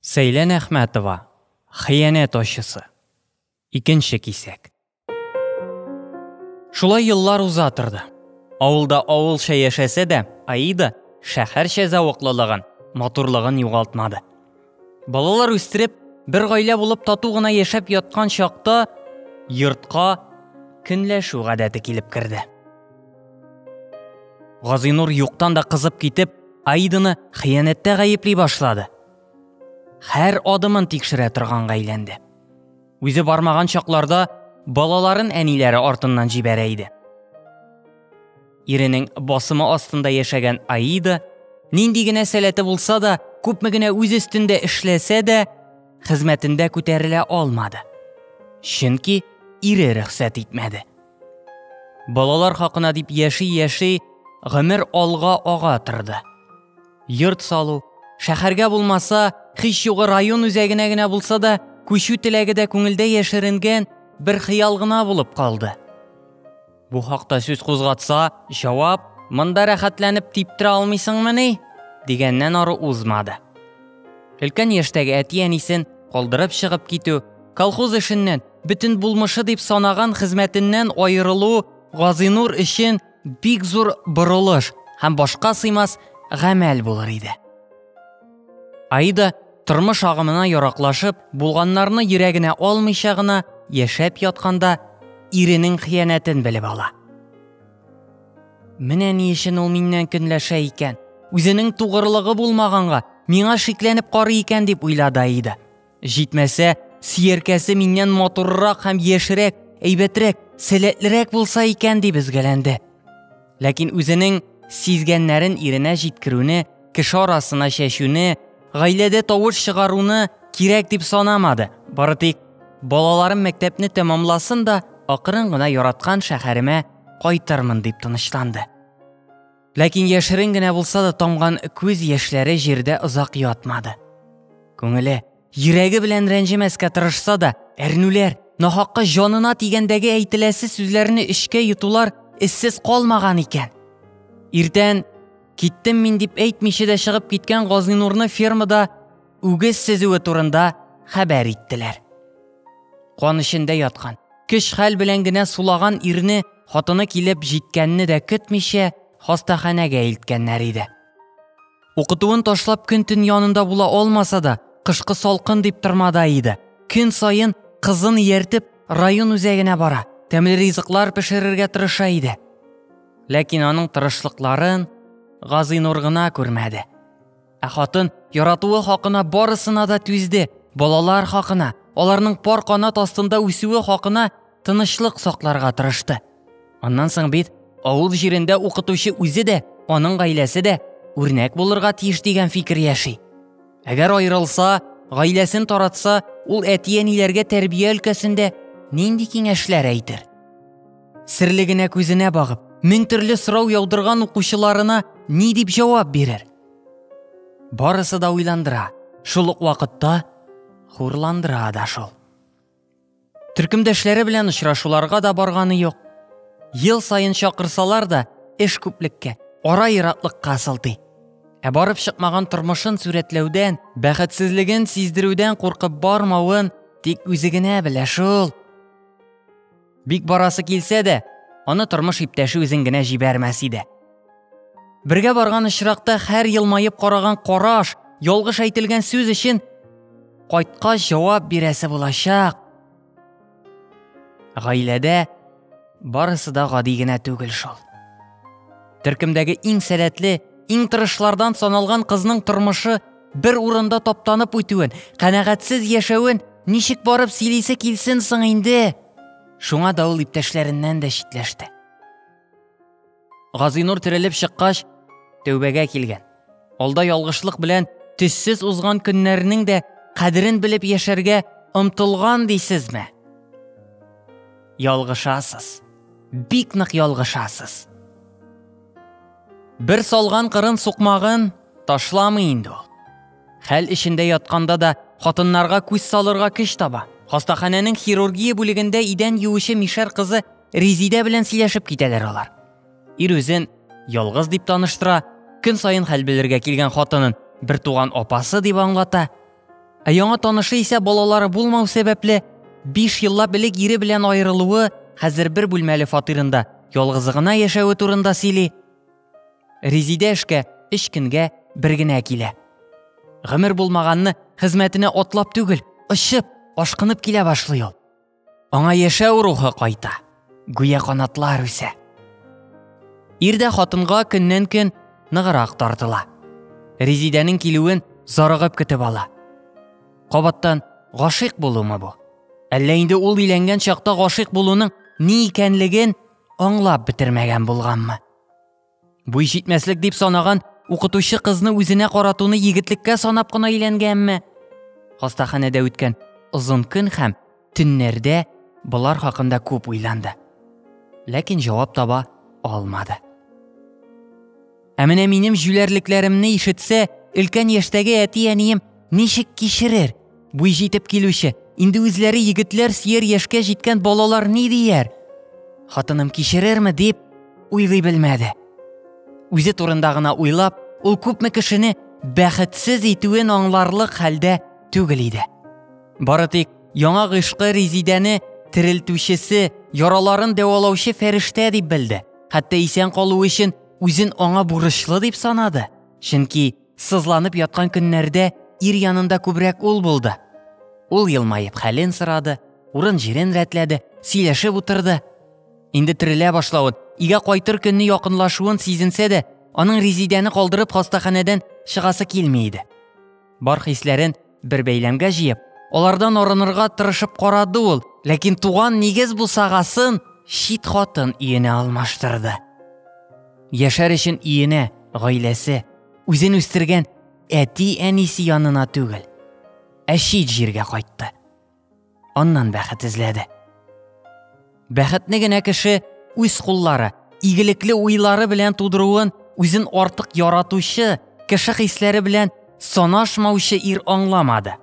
Сәйлән Әхмәтова, Хыянәт ачысы. Икенче кисәк. Шулай еллар уза торды. Авылда авылча яшәсә дә, Аида шәһәрчә зәвыклылыгын, матурлыгын югалтмады. Балалар үстереп, бер гаилә булып тату гына яшәп яткан чакта йортка көнләшү гадәте килеп керде. Газинур юктан да кызып китеп, Аиданы хыянәттә гаепли башлады. Хәр адымын тикшерә торган әйләнде. Үзе бармаган чакларда балаларын әниләре артыннан җибәрә иде. Иренең басымы астында яшәгән Аида нинди генә сәләте булса да, күпме генә үз өстендә эшләсә дә, хезмәтендә күтәрелә алмады. Чөнки ире рөхсәт итмәде. Балалар хакына дип яши-яши, гомер алга ага торды. Йорт салу, шәһәргә булмаса, хич югы район үзәгенә генә булса да, күчү теләге дә күңелдә яшеренгән бер хыял гына булып калды. Бу хакта сүз кузгатса, җавап «Монда рәхәтләнеп типтерә алмыйсыңмыни?» дигәннән ары узмады. Өлкән яшьтәге әти-әнисен калдырып чыгып китү, колхоз эшеннән бөтен булмышы дип санаган хезмәтеннән аерылу Газинур өчен бик зур борылыш һәм башка сыймас гамәл булыр иде. Аида тормыш агымына яраклашып, булганнарны йөрәгенә алмыйча гына яшәп ятканда иренең хыянәтен белеп ала. Менә ни өчен ул миннән көнләшә икән. Үзенең тугырлыгы булмаганга, миңа шикләнеп карый икән дип уйлады Аида. Җитмәсә, сияркәсе миннән матуррак һәм яшьрәк, әйбәтрәк, сәләтлерәк булса икән дип өзгәләнде. Ләкин үзенең сизгәннәрен иренә җиткерүне, кеше арасына чәчүне, гаиләдә тавыш чыгаруны кирәк дип санамады. Бары тик балаларым мәктәпне тәмамласын да, акрын гына яраткан шәһәремә кайтырмын дип тынычланды. Ләкин яшерен генә булса да тамган күз яшьләре җирдә озак ятмады. Күңеле, йөрәге белән рәнҗемәскә тырышса да, әрнүләр, нахакка җанына тигәндәге әйтеләсе сүзләрне эчкә йотулар эссез калмаган икән. Иртән киттем мин дип әйтмичә дә чыгып киткән Газинурны фермада үгез сезүе турында хәбәр иттеләр. Кан эчендә яткан, Көч-хәл белән генә сулаган ирне хатыны килеп җиткәнне дә көтмичә хастаханәгә илткәннәр иде. Укытуын ташлап көн-төн янында була алмаса да, кышкы салкын дип тормада иде. Көн саен кызын ияртеп район үзәгенә бара, тәмле ризыклар пешерергә тырыша иде. Ләкин аның тырышлыкларын Газыйнур гына күрмәде. Ә хатын яратуы хакына барысына да түзде, балалар хакына, аларның пар канат астында үсүе хакына тынычлык сакларга тырышты. Аннан соң бит авыл җирендә укытучы үзе дә, аның гаиләсе дә үрнәк булырга тиеш дигән фикер яши. Әгәр аерылса, гаиләсен таратса, ул әти-әниләргә тәрбия өлкәсендә нинди киңәшләр әйтер? Серлегенә күзенә багып, мең төрле сорау яудырган укучыларына ни дип җавап бирер? Барысы да уйландыра, шул ук вакытта хурландыра да шул. Төркемдәшләре белән очрашуларга да барганы юк. Ел саен чакырсалар да, эш күплеккә, ара ератлыкка сылтый. Ә барып чыкмаган тормышын сүрәтләүдән, бәхетсезлеген сиздерүдән куркып бармавын тик үзе генә белә шул. Бик барасы килсә дә, аны тормыш иптәше үзен генә җибәрмәс иде. Бергә барган очракта һәр елмаеп караган караш, ялгыш әйтелгән сүз өчен кайткач җавап бирәсе булачак. Гаиләдә барысы да гади генә түгел шул. Төркемдәге иң сәләтле, иң тырышлардан саналган кызның тормышы Бер урында таптанып үтүен, канәгатьсез яшәвен ничек барып сөйлисе килсен соң инде? Шуңа да ул иптәшләреннән дә читләште. Газинур терелеп чыккач, тәүбәгә килгән. Алда ялгышлык белән төссез узган көннәрнең дә кадерен белеп яшәргә омтылган дисезме? Ялгышасыз. Бик нык ялгышасыз. Бер салган кырын сукмагын ташламый инде ул. Хәл эчендә ятканда да хатыннарга күз салырга көч таба. Хастаханәнең хирургия бүлегендә идән юучы мишәр кызы Резидә белән сөйләшеп китәләр алар. Ир үзен ялгыз дип таныштыра, көн саен хәл белергә килгән хатынын бертуган апасы дип аңлата. Ә яңа танышы исә балалары булмау сәбәпле, биш еллап элек ире белән аерылуы, хәзер бер бүлмәле фатирында ялгызы гына яшәве турында сөйли. Резидә эшкә өч көнгә бер генә килә. Гомер булмаганны хезмәтенә атлап түгел, очып, ашкынып килә башлый ул. Аңа яшәү рухы кайта, гүя канатлар үсә. Ирдә хатынга көннән-көн ныгырак тартыла. Резидәнең килүен зарыгып көтеп ала. Кабаттан гашыйк булумы бу? Әллә инде ул иләнгән чакта гашыйк булуның ни икәнлеген аңлап бетермәгән булганмы? Буй җитмәслек дип санаган укытучы кызны үзенә каратуны егетлеккә санап кына өйләнгәнме? Хастаханәдә үткән озын көн һәм төннәрдә болар хакында күп уйланды. Ләкин җавап таба алмады. Ә менә минем җүләрлекләремне ишетсә, өлкән яшьтәге әти-әнием ничек кичерер? Буй җитеп килүче, инде үзләре егетләр сөяр яшькә җиткән балалар ни дияр? Хатыным кичерерме дип уйлый белмәде. Үзе турында гына уйлап, ул күпме кешене бәхетсез итүен аңларлык хәлдә түгел иде. Бары тик яңа гыйшкы Резидәне терелтүчесе, яраларын дәвалаучы фәрештә дип белде. Хәтта исән калу өчен үзен аңа бурычлы дип санады. Чөнки Сызланып яткан көннәрдә ир янында күбрәк ул булды. Ул елмаеп хәлен сорады, урын-җирен рәтләде, сөйләшеп утырды. Инде терелә башлавын, игә кайтыр көнне якынлашуын сизенсә дә, аның Резидәне калдырып хастаханәдән чыгасы килми иде. Бар хисләрен Бер бәйләмгә җыеп, алардан арынырга тырышып карады ул, ләкин туган нигез бусагасын чит хатын иенә алмаштырды. Яшәр өчен иенә, гаиләсе, үзен үстергән әти-әнисе янына түгел, ә чит җиргә кайтты. аннан бәхет эзләде. Бәхетне генә кеше үз куллары, игелекле уйлары белән тудыруын үзен артык яратучы, кеше хисләре белән санашмаучы ир аңламады.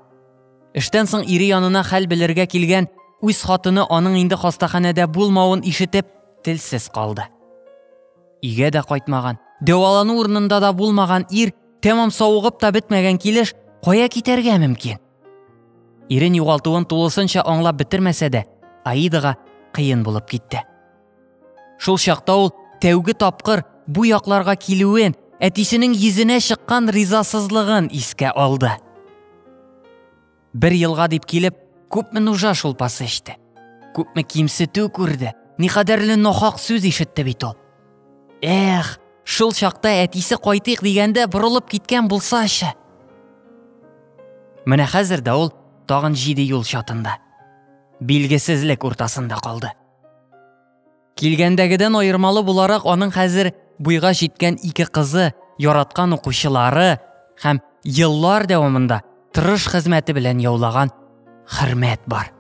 Эштән соң ире янына хәл белергә килгән үз хатыны аның инде хастаханәдә булмавын ишетеп, телсез калды. Игә дә кайтмаган, дәвалану урынында да булмаган ир, тәмам савыгып та бетмәгән килеш, кая китәргә мөмкин? Ирен югалтуын тулысынча аңлап бетермәсә дә, Аидага кыен булып китте. Шул чакта ул тәүге тапкыр бу якларга килүен, әтисенең йөзенә чыккан ризасызлыгын искә алды. Бер елга дип килеп, күпме нужа шулпасы эчте. Күпме кимсетү күрде, никадәрле нахак сүз ишетте бит ул. Эх, шул чакта әтисе кайтыйк дигәндә борылып киткән булсачы. Менә хәзер дә ул тагын җиде юл чатында. Билгесезлек уртасында калды. Килгәндәгедән аермалы буларак аның хәзер буйга җиткән ике кызы, яраткан укучылары һәм еллар дәвамында тырыш хезмәте белән яулаган хөрмәт бар.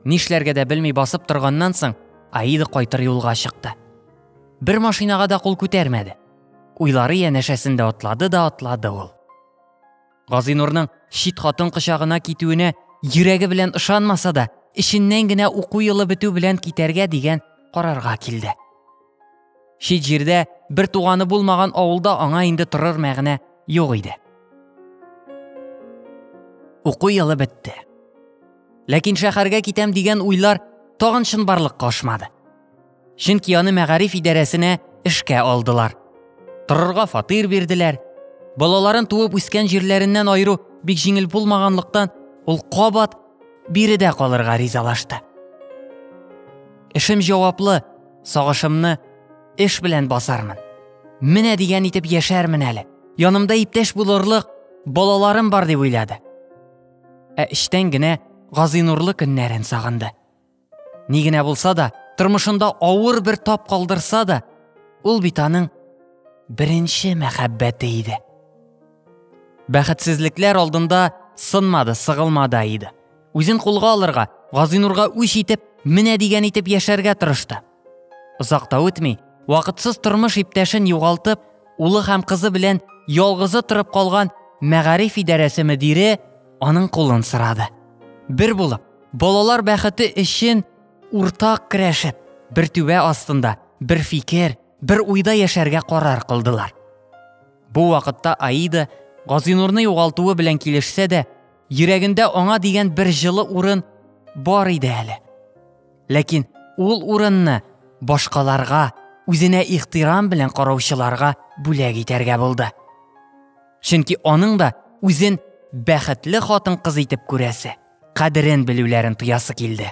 Нишләргә дә белми басып торганнан соң, Аида кайтыр юлга чыкты. Бер машинага да кул күтәрмәде. Уйлары янәшәсендә атлады да атлады ул. Газинурның чит хатын кочагына китүенә йөрәге белән ышанмаса да, эченнән генә уку елы бетү белән китәргә дигән карарга килде. Чит җирдә бер туганы булмаган авылда аңа инде торыр мәгънә юк иде. Уку елы бетте. Ләкин шәһәргә китәм дигән уйлар тагын чынбарлыкка ашмады. Чөнки аны мәгариф идарәсенә эшкә алдылар. Торырга фатир бирделәр. Балаларын туып үскән җирләреннән айыру бик җиңел булмаганлыктан, ул кабат биредә калырга ризалашты. Эшем җаваплы, Сагышымны эш белән басармын. Менә дигән итеп яшәрмен әле. Янымда иптәш булырлык балаларым бар дип уйлады. Ә эчтән генә Газинурлы көннәрен сагынды. Ни генә булса да, тормышында авыр бер тап калдырса да, ул бит аның беренче мәхәббәте иде. Бәхетсезлекләр алдында сынмады, сыгылмады Аида. Үзен кулга алырга, Газинурга үч итеп, менә дигән итеп яшәргә тырышты. Озак та үтми, вакытсыз тормыш иптәшен югалтып, улы һәм кызы белән ялгызы торып калган мәгариф идарәсе мөдире аның кулын сорады. Бер булып, балалар бәхете өчен уртак керәшеп, бер түбә астында, бер фикер, бер уйда яшәргә карар кылдылар. Бу вакытта Аида Газинурны югалтуы белән килешсә дә, Йөрәгендә аңа дигән бер җылы урын бар иде әле. Ләкин ул урынны башкаларга, үзенә ихтирам белән караучыларга бүләк итәргә булды. Чөнки аның да үзен бәхетле хатын-кыз итеп күрәсе, кадерен белүләрен тоясы килде.